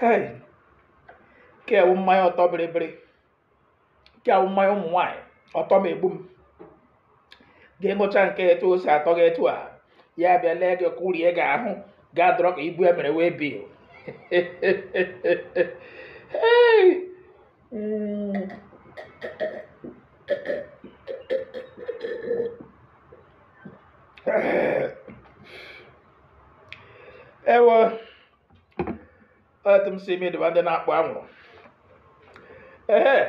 hei nke a wụ mmanya ọtọ bịrịbịrị nke a wụ mmanya ụmụ nwaanyị ọtọ m egbu m gị ṅụcha nke etu o si atọ gị etu a ya bịa lee gị kụrie gị ahụ gị adọrọ ka ibu e mere waybill ewe etu m sị imi diba ndị na-akpọ anwụrụ ee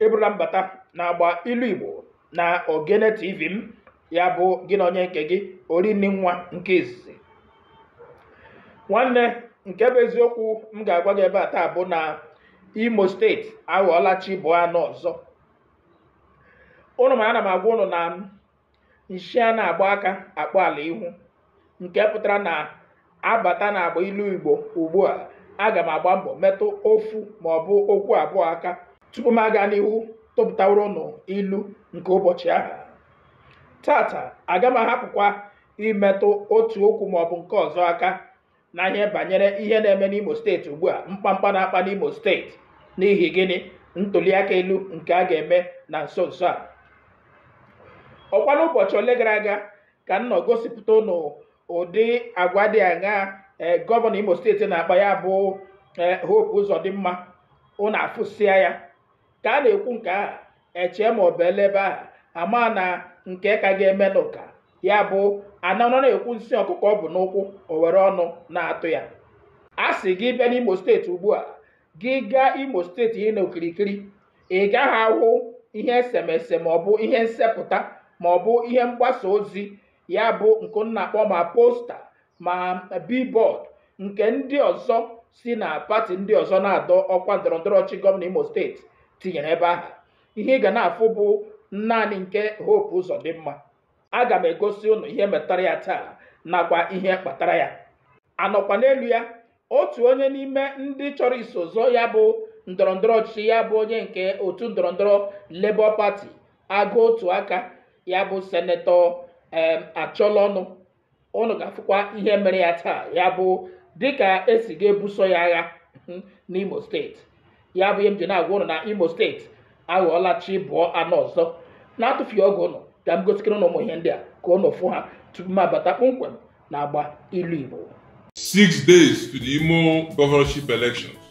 ị bụrụla mbata na agba ilu igbo na ogene tv m ya bụ gị na onye nke gị orinni nwa nke izizi nwanne nke bụ eziokwu m ga-agwa gị ebe a taa bụ na imo steeti aghọọla chi bọọ a nụ ọzọ ụnụ ma ana m agwa ụnụ na nshi a na-agba aka akpọ ala ihu nke pụtara na a bata na agba ilu igbo ugbu a aga m agba mbọ metụ ofu ma ọ bụ okwu abụọ aka tupu m aga n'ihu tụpụtaworo ụnụ ilu nke ụbọchị ahụ tata aga m ahapụkwa imetụ otu okwu ma ọ bụ nke ọzọ aka na ihe banyere ihe na-eme n'imo steeti ugbu a mkpamkpa na-akpa n'imo steeti n'ihi gịnị ntụliaka elu nke a ga-eme na nso nso a ọ kwa n'ụbọchị ole gara aga ka m nọ gosipụta ụnụ ụdị agwa dị aṅaa gọvanọ imo steeti na-akpa ya bụ ee hope ụzọdịmma ụnụ afụsịa ya ka a na-ekwu nke ahụ echee ma ọ bụ ele ebe ahụ ama na nke ka ga-eme n'ụka ya bụ a na-anọ na-ekwu nsị ọkụkọ bu n'ụkwụ o were ọnụ na-atụ ya a sị gị bịa n'imo steeti ugbu a gị gaa imo steeti ihe na okirikiri ị gaghị ahụ ihe esemese ma ọ bụ ihe nsepụta ma ọ bụ ihe mgbasa ozi ya bụ nke m na-akpọ ma posta ma billboard nke ndị ọzọ si na pati ndị ọzọ na-adọ ọkwa ndọrọndọrọ ọchịchị gọvanọ Imo steeti tinyere ebe ahụ ihe ị ga na-afụ bụ naanị nke Hope Uzodimma aga m egosi ụnụ ihe metara ya taa nakwa ihe kpatara ya a nọkwa n'elu ya otu onye n'ime ndị chọrọ iso zọọ ya bụ ndọrọndọrọ ọchịchị ya bụ onye nke otu ndọrọndọrọ Labour Party agụ otu aka ya bụ senetọ em Achọlọnụ ụnụ ga-afụkwa ihe mere ya taa ya bụ dịka e si ga-ebuso ya agha hmm, n'Imo steeti ya bụ ihe m ji na-agwa ụnụ na Imo steeti aghọọla chi bọọ a nụ ọzọ n'atụfughị oge ụnụ ka m gosikene ụnụ ụmụ ihe ndị a ka ụnụ fụ ha tupu m abata kpọmkwem na agba ilu Igbo six days to the Imo governorship elections.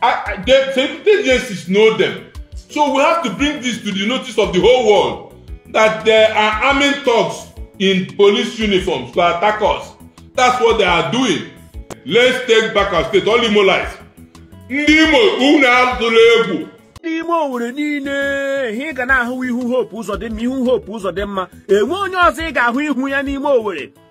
I, I, they, some agencies know them. So we have to bring this to the notice of the whole world that they are arming thugs in police uniforms to attack us. That's what they are doing. Let's take back our state. All Imolites. Ndị Imo unu atụla egwu. Ndị Imo Owerri niile ihe ị ga na-ahụ ihu Hope Uzodimma ihu Hope Uzodimma enwe onye ọzọ ị ga-ahụ ihu ya n'ime Owerri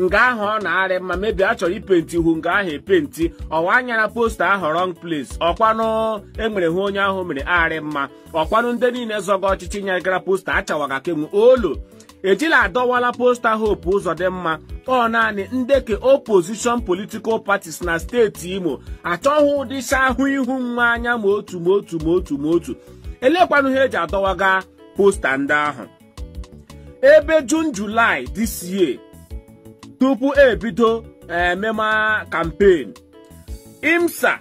nga ahụ ọ na-arị mma maybe a chọrọ ipenti ihu nga ahụ epenti ọ wụ a nyara posta ahụ wrong place ọkwanụ enwere ihe onye ahụ mere arị mma ọkwanụ ndị niile zọga ọchịchị nyagara posta achawaga ke nwu olu ejila adọwala posta Hope Uzodimma ọ naanị nde ke opposition political parties na steeti imo achọghị ụdịcha ahụ ihu nwa anya ma otu ma otu ma otu ma otu elekwanụ ihe eji adọwaga posta ndị ahụ ebe June July this year tupu ebido emema campaign IMSAA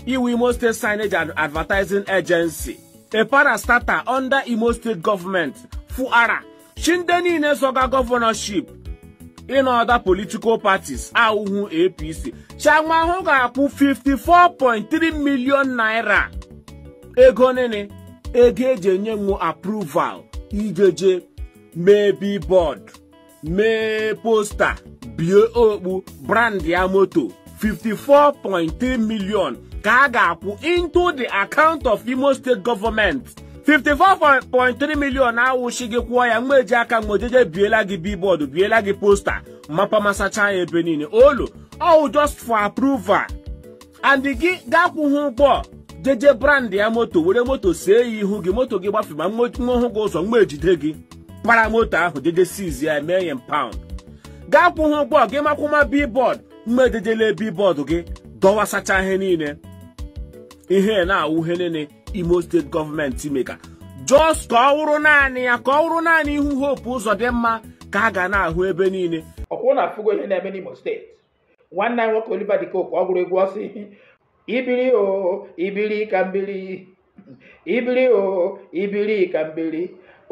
wụ Imo State Signage and Advertising Agency a parastatal under Imo State Government fụara shị ndị niile zọga governorship in other political parties awụhụ APC shị nwa ahụ ga-akwụ 54.3 million naira ego nini ego eji enye nwu approval ijeje mee billboard mee posta bie okpu brand ya moto 54.3 million ka a ga-akwụ into the account of Imo State Government 54.3 million awụ shị gị kwụọ ya nwa eji aka nwa ejeje biela gị billboard biela gị posta mapa masacha ya ebe niile olu ọ wụ just for approval and gị akwụghị ụgwọ jeje brand ya moto were moto see ya ihu gị moto gị gbafema nwa hụ gị ụzọ nwa ejide gị para moto ahụ jeje seize ya mee ya impound gị akwụghị ụgwọ gị makwụma billboard nwa ejeje le billboard gị dọwasacha ihe niile ihe na-awụ ihe niile Imo State government mega just ka ọ wụrụ naanị ya ka ọ wụrụ naanị ihu Hope Uzodimma ka a ga na-ahụ ebe niile ọkwa unu afụgo ihe na-eme n'imo steeti nwanne anyị nwoke Oliver De Coque ọ gụrụ egwu ọ sị i biri o i biri ka m biri i biri o i biri ka m biri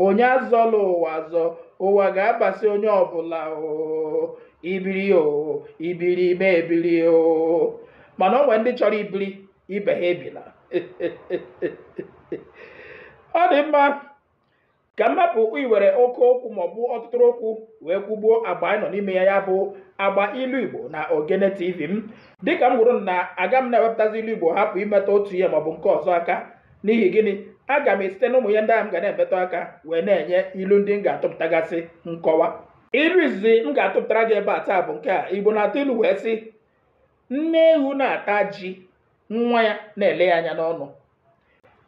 onye azọla ụwa azọ ụwa ga-abasị onye ọbụla o i biri o i biri mụ ebiri o mana o nwere ndị chọrọ ibiri ibe ha ebila ọ dị mma ka m hapụ iwere oke okwu maọbụ ọtụtụrụ okwu wee kwugbuo agba anyị nọ n'ime ya ya bụ agba ilu igbo na ogene tv m dịka m kwuru na aga m na-ewepụtazi ilu igbo hapụ imetụ otu ihe maọbụ nke ọzọ aka n'ihi gịnị aga m esite n'ụmụ ihe ndị ahụ m ga na-emetụ aka wee na-enye ilu ndị m ga-atụpụtagasị nkọwa ilu izizi m ga-atụpụtara gị ebe a taa bụ nke a igbo na-atụ ilu wee sị nne ewu na-ata ji nwa ya na-ele ya anya n'ọnụ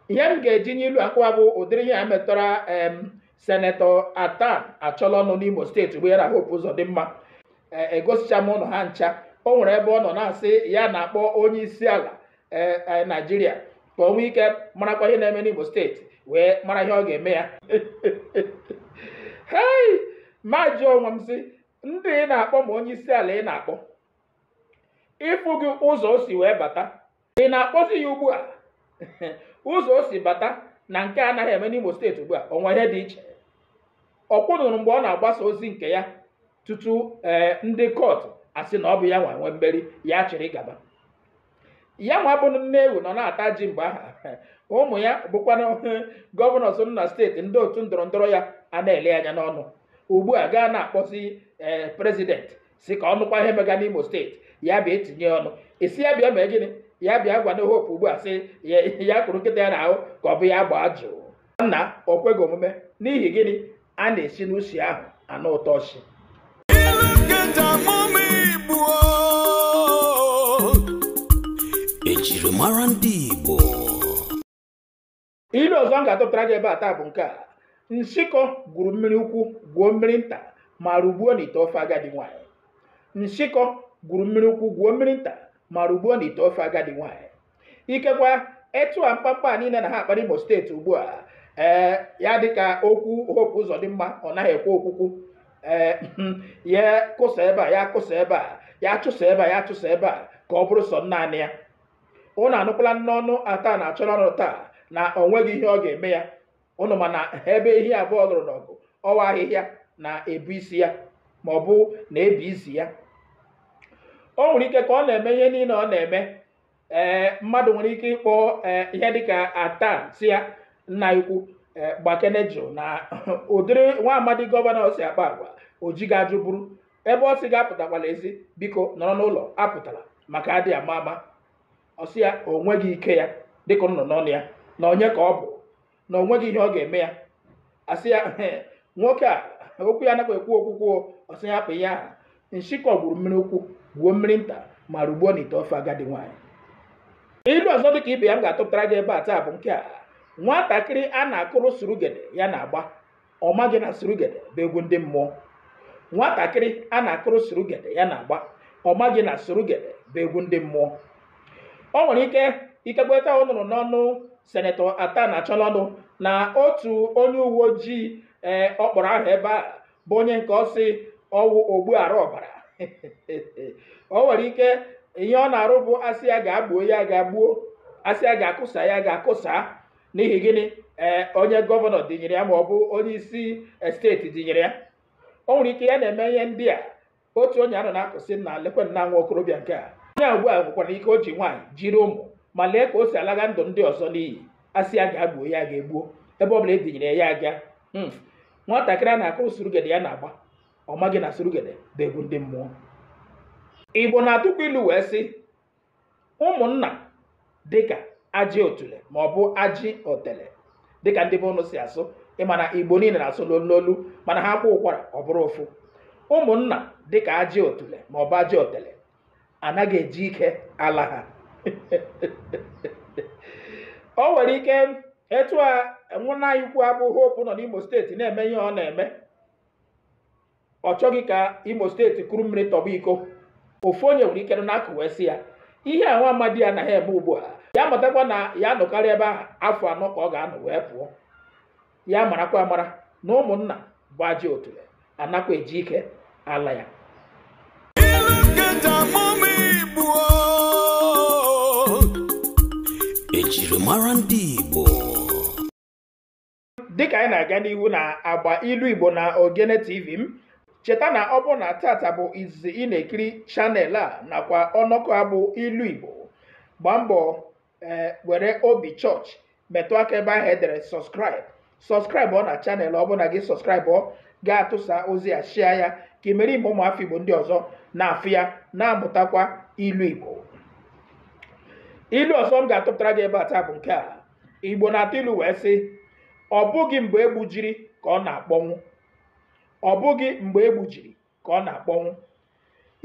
ihe m ga-eji nye ilu a nkọwa bụ ụdịrị ihe a metụtara em senetọ atan achọlọnụ n'imo steeti ugbu a na hope uzodimma egosicha m ụnụ ha ncha o nwere ebe ọ nọ na-asị ya na-akpọ onye isi ala ee naijiria ka o nwee ike marakwa ihe na-eme n'imo steeti wee mara ihe ọ ga-eme ya hei m ajụọ onwe m sị ndị ị na-akpọ ma onye isi ala ị na-akpọ ị fụghị ụzọ o si wee bata ị na-akpọzi ya ugbu a ụzọ o si bata na nke a anaghị eme n'Imo steeti ugbu a o nwere ihe dị iche ọ kwa ụnụ hụrụ mgbe ọ na-agbasa ozi nke ya tutu ee ndị kọtụ asị na ọ bụ ya nwa nwe mmeri ya chịrị gaba ya nwa bụ nne ewu nọ na-ata ji mgbe ahụ ụmụ ya bụkwanụ gọvanọs nọ na steeti ndị otu ndọrọ ndọrọ ya a na-ele anya n'ọnụ ugbu a gị ana-akpọzi ee prezidenti sị ka ọ nụkwa ihe mega n'imo steeti ya bịa etinye ọnụ ị sị ya bịa mee gịnị ya bịa gwanụ hope ugbu a sị ya ya kụrụ nkịta ya n'ahụ ka ọ bụ ya gbaa jụụ nna o kweghị omume n'ihi gịnị a na-esi n'usi ahụ anụ ụtọ nshị ejirimara ndị Igbo Ilu ọzọ m ga-atụpụtara gị ebe a taa bụ nke a nshịkọ gwuru mmiri ukwu gwuo mmiri nta ma rugbuo n'ite ofe agadi nwaanyị nshịkọ gwuru mmiri ukwu gwuo mmiri nta ma rugbuo n'ite ofe agadi nwaanyị ikekwa etu a mkpamkpa a niile na ha akpa n'Imo steeti ugbu a ee ya dịka okwu Hope Uzodimma ọ naghị ekwe okwukwu ee ya kụsa ebe a ya kụsa ebe a ya chụsa ebe a ya chụsa ebe a ka ọ bụrụ sọ naanị ya ụnụ anụkwala n'ọnụ atan achọlọnụ taa na ọ nweghị ihe ọ ga-eme ya ụnụ ma na ebe ehi abụọ lụrụ n'ọgụ ọ wụ ahịhịa na-ebu isi ya ma ọ bụ na-ebi isi ya o nwere ike ka ọ na-eme ihe niile ọ na-eme ee mmadụ nwere ike ịkpọ ee ihe dịka atan sị ya nna ukwu ee gbakene jụụ na ụdịrị nwa amadi gọvanọ si akpa agwa o jighị ajụ buru ebe ọ sị gị apụtakwala ezi biko nọrọ n'ụlọ apụtala maka adị ama ama ọ sị ya o nweghị ike ya dịka ọ nọ n'ọnụ ya na onye ka ọ bụ na o nweghị ihe ọ ga-eme ya a sị ya ehe nwoke a okwu ya anaghị ekwu okwukwu ọ sị ya hapụ ihe ahụ nshikọ gwuru mmiri ukwu gwuo mmiri nta ma rugbuo n'ite ofe agadi nwaanyị ilu ọzọ dịka ibe ya m ga-atụpụtara gị ebe a taa bụ nke a nwatakịrị a na-akụrụ surugede ya na-agba ọ maghị na surugede bụ egwu ndị mmụọ nwatakịrị a na-akụrụ surugede ya na-agba ọ maghị na surugede bụ egwu ndị mmụọ o nwere ike ikekwe taa ị nụrụ n'ọnụ senetọ Athan Achonu na otu onye uwe ojii ee ọ kpọrọ aha ebe a bụ onye nke ọ sị ọ wụ ogbu ara ọbara o nwere ike ihe ọ na-arụ bụ a sị ya gaa gbuo ya gaa gbuo a sị ya gaa kụsa ya gaa kụsa n'ihi gịnị ee onye gọvanọ dinyere ya ma ọ bụ onye isi eh, steeti dinyere ya o nwere ike ya na-eme ihe ndị a otu onye a nọ na-akọ sị na lekwe nna nwa okorobịa nke a onye a ugbu a nwekwara ike o ji nwaanyị jiri ụmụ ma lee ka o si alaga ndụ ndị ọzọ n'iyi a sị ya gaa gbuo ya ga-egbuo ebe ọ bụla e dinyere ya aga Hmm. nwatakịrị a na-akụrụ surugede ya na-agba ọ maghị na surugede bụ egwu ndị mmụọ igbo na-atụkwa ilu wee sị ụmụnna dịka ajị otule ma ọ bụ ajị otele dịka ndị be unu si asụ ị ma na igbo niile na-asụ n'olu n'olu mana ha kwaa ụkwara ọ bụrụ ofu ụmụnna dịka ajị otule ma ọ bụ ajị otele anaghị eji ike ala ha o nwere ike etu a nwanne anyị ukwu a bụ Hope nọ n'imo steeti na-eme ihe ọ na-eme ọ chọghị ka imo steeti kuru mmiri tọgbọ iko ofu onye nwere ike na-akọ wee sị ya ihe a nwa amadi a na-eme ugbu a ya matakwa na ya nọkarị ebe ahụ afọ anọ ka ọ ga-anọ wee pụọ ya marakwa amara na ụmụnna bụ ajị otule anakwa eji ike ala ya ejirimara ndị Igbo dịka anyị na-aga n'ihu n'agba ilu igbo na ogene tv m cheta na ọ bụrụ na taata bụ izizi ị na-ekiri channel a nakwa ọnọkọ a bụ ilu igbo gbaa mbọ ee were obi chọọchị metụ aka ebe ahụ e dere subscribe subscribeụọ na channel ọ bụrụ na gị subscribeụọ gaa tụsa ozi a share ya ka i mere ime ụmụafọ igbo ndị ọzọ na-afụ ya na-amụtakwa ilu igbo ilu ọzọ m ga-atụpụtara gị ebe a taa bụ nke a igbo na-atụ ilu wee sị ọ bụghị mgbe egbujiri ka ọ na-akpọnwụ ọ bụghị mgbe egbujiri ka ọ na-akpọnwụ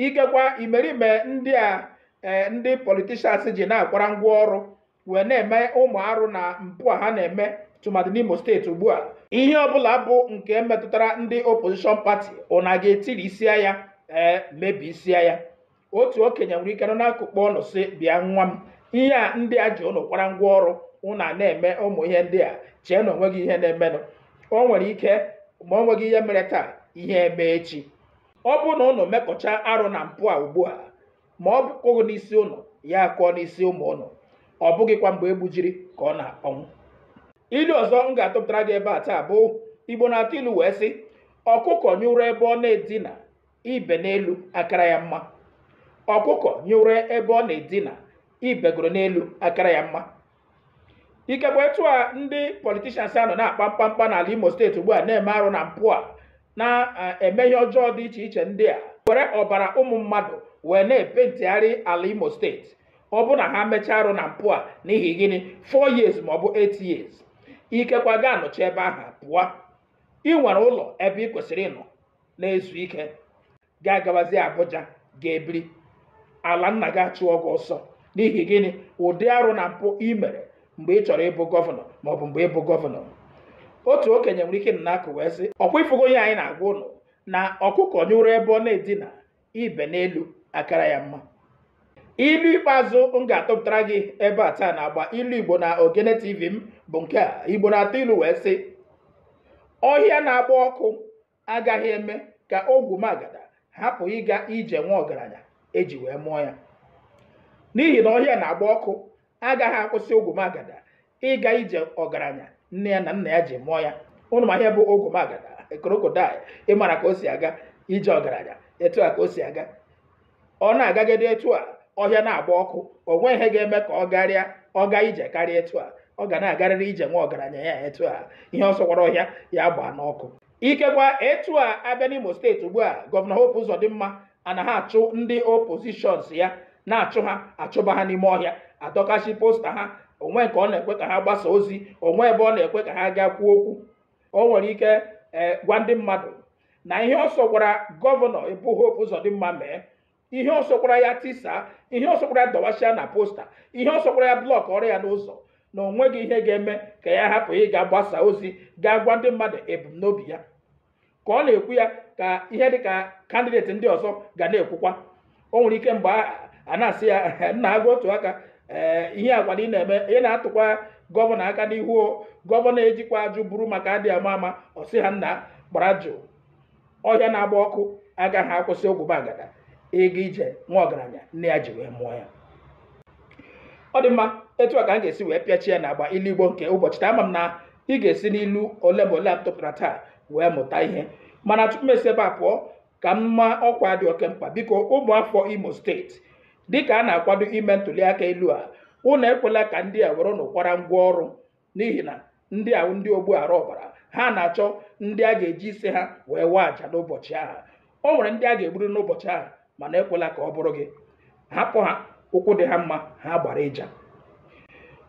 ikekwa imerime ndị a eh, ndị politishans ji na-akwara ngwa ọrụ wee na-eme ụmụ arụ na mpụ a ha na-eme tụmadị n'imo steeti ugbu a ihe ọbụla bụ nke metụtara ndị opposition pati ụna ga-etirisịa ya ee eh, mebisịa ya otu okenye nwere ike nọ n'akụkụ kpọọ ụnụ sị bịa nwa m ihe a ndị a ji ụnụ kwara ngwa ọrụ ụnụ a na-eme ụmụ ihe ndị a chee na onweghị ihe na-emenụ o nwere ike ma o nweghị ihe mere taa ihe eme echi ọ bụrụ na ụnụ mekọcha arụ na mpụ a ugbu a ma ọ kụghị n'isi ụnụ ya akụọ n'isi ụmụ ụnụ ọ bụghịkwa mgbe egbujiri ka ọ na-akpọnwụ ilu ọzọ m ga-atụpụtara gị ebe a taa bụ igbo na-atụ ilu wee sị ọkụkọ nyụrụ ebe ọ na-edina ibe n'elu akara ya mma ọkụkọ nyụrụ ebe ọ na-edina ibegoro n'elu akara ya mma ikekwa etu a ndị politishans a nọ na-akpa mkpamkpa n'ala imo steeti ugbu a na-eme arụ na mpụ a na-eme ihe ọjọọ dị iche iche ndị a were ọbara ụmụ mmadụ wee na-epentigharị ala imo steeti ọ bụrụ na ha mechaa arụ na mpụ a n'ihi gịnị 4 years ma ọ bụ 8 years ikekwa gị anọchaa ebe ahụ pụọ ị nwere ụlọ ebe ị kwesịrị ịnọ na-ezu ike gị agabazi Abuja ga-ebiri ala nna gị achụọ gị ọsọ n'ihi gịnị ụdị arụ na mpụ ị mere mgbe ị chọrọ ịbụ gọvanọ maọbụ mgbe ị bụ gọvanọ otu okenye nwere ike nọ n'akụkụ wee sị ọkwa ifugo ihe anyị na-agwa ụnụ na ọkụkọ nyụrụ ebe ọ na-edina ibe n'elu akara ya mma ilu ikpeazụ m ga-atụpụtara gị ebe a taa n'agba ilu igbo na ogene tv bụ nke a igbo na-atụ ilu wee sị ọhịa na-agba ọkụ agaghị eme ka ogwumagada hapụ ịga ije nwa ọgaranya eji wee mụọ ya n'ihi na ọhịa na-agba ọkụ agaghị akwụsị ogwumagada ịga ije ọgaranya nne ya na nna ya ji mụọ ya ụnụ ma ihe bụ ogwumagada krokodil ị mara ka o si aga ije ọgaranya etu a ka o si aga ọ na-agagide etu a ọhịa na-agba ọkụ o nweghị ihe ga-eme ka ọ garịa ọ gaa ije karịa etu a ọ ga na-agarịrị ije nwa ọgaranya ya etu a ihe ọ sọkwara ọhịa ya gbaa n'ọkụ ikekwa etu a abịa n'Imo steeti ugbu a gọvanọ Hope Uzodimma ana-achụ ndị oppositions ya na-achụ ha achụba ha n'ime ọhịa adọkasị posta ha o nweghị nke ọ na-ekwe ka ha gbasa ozi o nweghị ebe ọ na-ekwe ka ha gaa kwuo okwu o nwere ike ee gwa ndị mmadụ na ihe ọ sọkwara gọvanọ bụ Hope Uzodimma mee ihe ọ sọkwara ya tisa ihe ọ sọkwara ya dọwasịa na posta ihe ọ sọkwara ya blọkọọrọ ya n'ụzọ na o nweghị ihe ga-eme ka ya hapụ ịga gbasa ozi gaa gwa ndị mmadụ ebumnobi ya ka ọ na-ekwu ya ka ihe dị ka kandideti ndị ọzọ ga na-ekwukwa o nwere ike mgbe a na-asị ya nna agụ otu aka ee ihe agwara ị na-eme ị na-atụkwa gọvanọ aka n'ihu gọvanọ ejikwa ajụ buru maka adị ama ama ọ sị ha nna gbara jụụ ọhịa na-agba ọkụ agaghị akwụsị ogwumagada ịga ije nwa ọgaranya nne ya ji wee mụọ ya ọ dị mma etu a ka m ga-esi wee pịachie n'agba ilu igbo nke ụbọchị taa ama m na ị ga-esi n'ilu ole ma ole a tụpụtara taa wee mụta ihe mana tupu m esi ebe a pụọ ka m maa ọkwa dị oke mkpa biko ụmụafọ imo steeti dịka a na-akwado ime ntụliaka elu a ụnụ ekwela ka ndị a were ụnụ kwara ngwa ọrụ n'ihi na ndị a ndị ogbu ara ọbara ha na-achọ ndị a ga-eji isi ha wee waa aja n'ụbọchị ahụ o nwere ndị a ga-egburu n'ụbọchị ahụ mana ekwela ka ọ bụrụ gị hapụ ha ụkwụ dị ha mma ha gbara ịja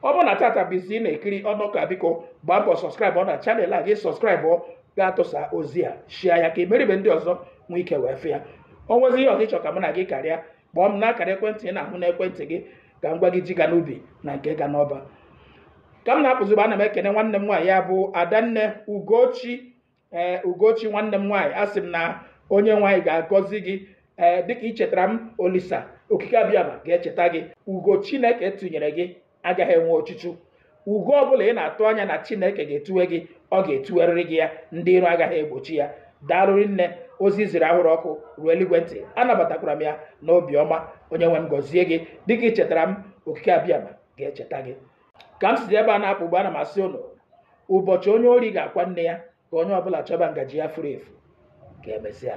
ọ bụrụ na tata bụ isi ị na-ekiri ọnụka biko gbaa mbọ sọskraịbụọ na channel a gị sọskraịbụọ ga-atụsa ozi a share ya ka imerime ndị ọzọ nwee ike wee fụ ya o nwezi ihe ọzọ ị chọ ka mụ na gị karịa kpọọ m n'akara ekwentị ị na-ahụ n'ekwentị gị ka m gwa gị ji ga n'ubi na nke ga n'ọba ka m na-apụzi ugbua ana m ekene nwanne m nwaanyị ya bụ adanne ugochi ee ugochi nwanne m nwaanyị asị m na onye nwe anyị ga-agọzi gị ee dịka ị chetara m olisa okike abịama ga-echeta gị ugo chineke tụnyere gị agaghị enwe ochuchu ugo ọbụla ị na-atụ anya na chineke ga-etuwe gị ọ ga-etuwerịrị gị ya ndị iro agaghị egbochi ya daalụrị nne ozi ziri ahụrụ ọkụ ruo eluigwe ntị anabatakwara m ya n'obiọma onye nwe m gọzie gị dịka ị chetara m okike abịama ga-echeta gị ka m sizi ebe a na-apụ ugbua ana m asị ụnụ ụbọchị onye ori ga-akwa nne ya ka onye ọbụla chọba ngaji ya furu efu ka emesịa